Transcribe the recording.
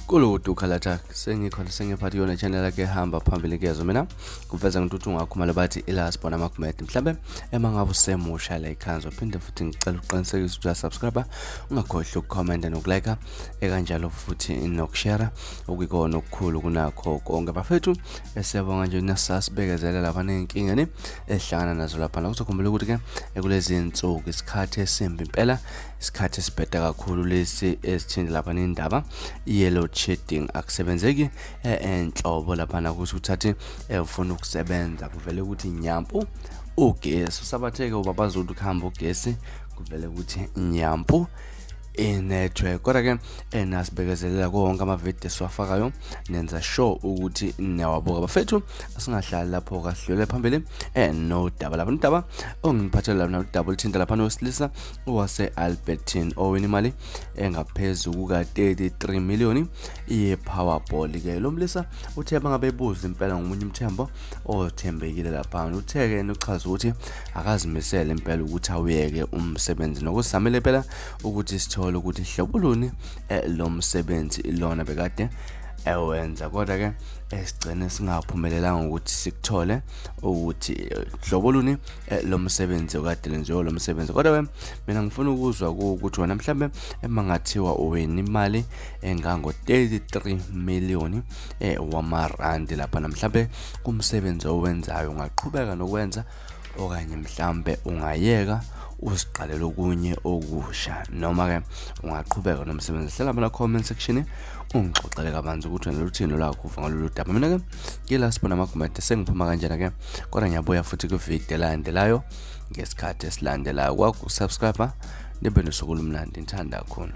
kulude ukhala jack sengikhona sengiphathi yona channel yakhe hamba phambili kuyezo mina kuveza ngintuthu ngakhumala bathi ilas bona makumede mhlambe ema ngabe usemusha la ikhanzo phinde futhi ngicela uqinisekise ukuthi uyasubscribe ungakhohlwa ukucomenta nokulike ekanjalo futhi nokushare okuyikona okukhulu kunakho konke bafethu esiyabonga nje nasasibekezela laba nenkinga ne esihlangana nazo lapha kuzokhumbula ukuthi ke ekulezi nsuku isikhathi esimbi impela isikhathi esibheda kakhulu lesi esithinta lapha nendaba yellow cheating akusebenzeki eh, enhlobo lapha nakuthi uthathi eh, ufuna ukusebenza kuvele ukuthi nyampu ugesi usabatheke ubabazulu ukuhamba ugesi kuvele ukuthi nyampu inethwe kodwa ke eh, nasibekezelela kuwo wonke amavidiyo esiwafakayo nenza sure ukuthi niyawabuka bafethu asingahlali lapho kasidlulele phambili eh, nodaba lapha nodaba ongiphathela lona udaba oluthinta laphana wesilisa wase-albertin owina imali engaphezu kuka-33 miliyoni ye-powerball ke lo mlisa uthe bangabebuza impela ngomunye umthembo othembekile laphana uthe-ke nochaza ukuthi akazimisele impela ukuthi awuyeke umsebenzi nokusamele impela ukuthi sithole ukuthi hlobuluni eh, lo msebenzi ilona bekade ewenza kodwa ke esigcine singaphumelelanga ukuthi sikuthole ukuthi eh, hlobo luni eh, lo msebenzi okade lenziwa lo msebenzi kodwa ke mina ngifuna ukuzwa ukuthi wena mhlambe emangathiwa uwena imali engango 33 million eh, wamarandi lapha namhlawumbe kumsebenzi owenzayo ungaqhubeka nokwenza okanye mhlambe ungayeka uziqalele okunye okusha noma-ke ungaqhubeka nomsebenzi hlela phela comment section ungixoxele kabanzi ukuthi wena luthini lwakho uva ngalolu daba mina-ke ngila sibona amagumede sengiphuma kanjena-ke kodwa ngiyabuya futhi kwividiyo elandelayo ngesikhathi esilandelayo kwakusubscribe nibe nosuku olumnandi ngithanda khona